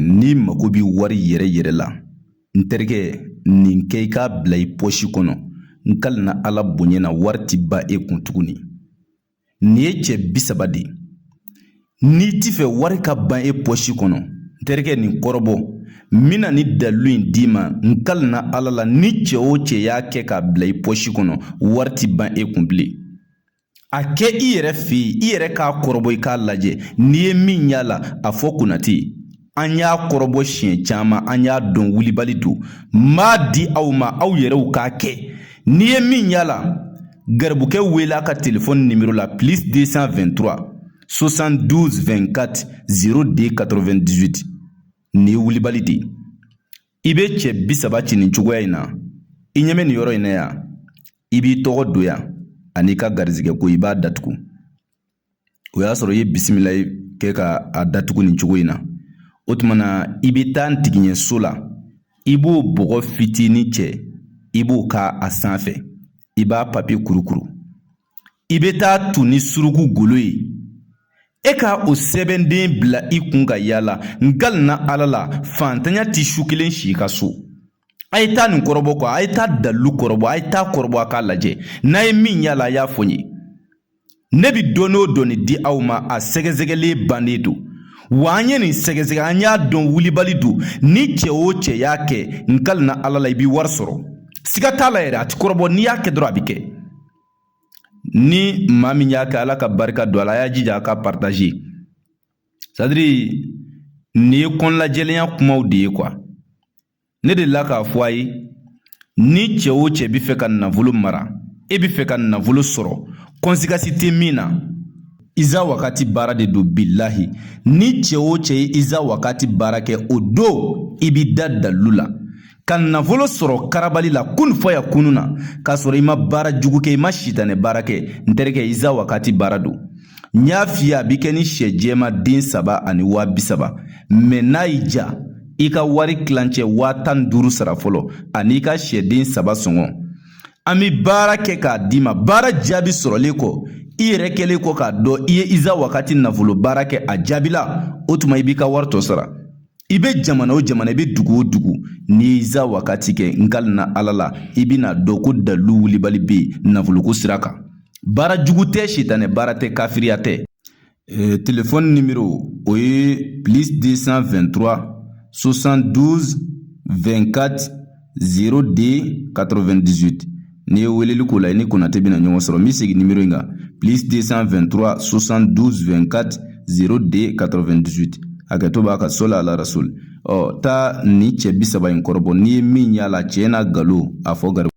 n'i mago bɛ wari yɛrɛ yɛrɛ la n terikɛ nin kɛ i k'a bila i pɔsi kɔnɔ n kalina ala bonya na wari ti ban e kun tuguni nin ye cɛ bi saba de ye n'i t'i fɛ wari ka ban e pɔsi kɔnɔ n terikɛ nin kɔrɔbɔ n bɛna nin dalilu in d'i ma n kalina ala la ni cɛ o cɛ y'a kɛ k'a bila i pɔsi kɔnɔ wari ti ban e kun bilen A kɛ i yɛrɛ fɛ yen i yɛrɛ k'a kɔrɔbɔ i k'a lajɛ n'i ye min y'a la a fɔ Konate an y'a kɔrɔbɔ siɲɛ caman an y'a dɔn wulibali don n b'a di aw ma aw yɛrɛw k'a kɛ n'i ye min y'a la garibukɛ wele a ka telefɔni nimero la plus 223 72 24 02 98 nin ye wulibali de ye i bɛ cɛ bi saba ci nin cogoya in na i ɲɛ bɛ nin yɔrɔ in na yan i b'i tɔgɔ don yan an'i ka garizigɛ ko i b'a datugu o y'a sɔrɔ i ye bisimila kɛ ka a datugu nin cogo in na o tuma na i bɛ taa ntigiɲɛ so la i b'o bɔgɔ fitinin cɛ i b'o k'a sanfɛ i b'a papiye kurukuru i bɛ t'a tun ni suruku golo ye e ka o sɛbɛnden bila i kun ka yaala n kalina ala la fantanya ti su kelen si i ka so A ye taa nin kɔrɔbɔ kuwa a ye taa dalilu kɔrɔbɔ a ye taa kɔrɔbɔ a k'a lajɛ n'a ye min y'a la a y'a fɔ n ye ne bi dɔnni o dɔnni di aw ma a sɛgɛsɛgɛlen bannen don wa an ye nin sɛgɛsɛgɛ an y'a dɔn wulibali don ni cɛ o cɛ y'a kɛ n kalina ala la i bi wari sɔrɔ siga t'a la yɛrɛ a ti kɔrɔbɔ n'i y'a kɛ dɔrɔn a bi kɛ ni maa min y'a kɛ ala ka barika don a la a y'a jija a ka partaze sadiri nin ye kɔnɔnajɛlenya kumaw de ye kuwa ne delila k'a fɔ a ye ni cɛ o cɛ bɛ fɛ ka nafolo mara e bɛ fɛ ka nafolo sɔrɔ kɔnsikasi tɛ min na iza wagati baara de don bilahi ni cɛ o cɛ ye iza wagati baara kɛ o don i b'i da dalilu la ka nafolo sɔrɔ karabali la kun fɔ ya kunun na k'a sɔrɔ i ma baara jugu kɛ i ma sitanɛ baara kɛ n terikɛ iza wakati baara don n y'a f'i ye a bi kɛ ni sɛ jɛma den saba ani waa bi saba mɛ n'a y'i ja i ka wari kilancɛ waa tan ni duuru sara fɔlɔ an'i ka sɛden saba sɔngɔ an bi baara kɛ k'a d'i ma baara jaabi sɔrɔlen kɔ i yɛrɛ kɛlen kɔ k'a dɔn i ye iza wakati nafolo baara kɛ a jaabila o tuma i b'i ka wari tɔ sara I bɛ jamana o jamana i bɛ dugu o dugu n'i ye iza wagati kɛ n kalina ala la i bɛn'a dɔn ko dalilu wulibali bɛ yen nafoloko sira kan baara jugu tɛ sitanɛ baara tɛ kafiriya tɛ telefɔni nimoro o ye deux cent 02 98 n'i ye weleli k'o la i ni konatɛ bɛna ɲɔgɔn sɔrɔ n bɛ segin nimoro in kan plus 223 72 24 02 98 hakɛto b'a kan sɔli ala rasuli ɔ taa nin cɛ bi saba in kɔrɔbɔ n'i ye min y'a la cɛn n'a galon a fɔ gari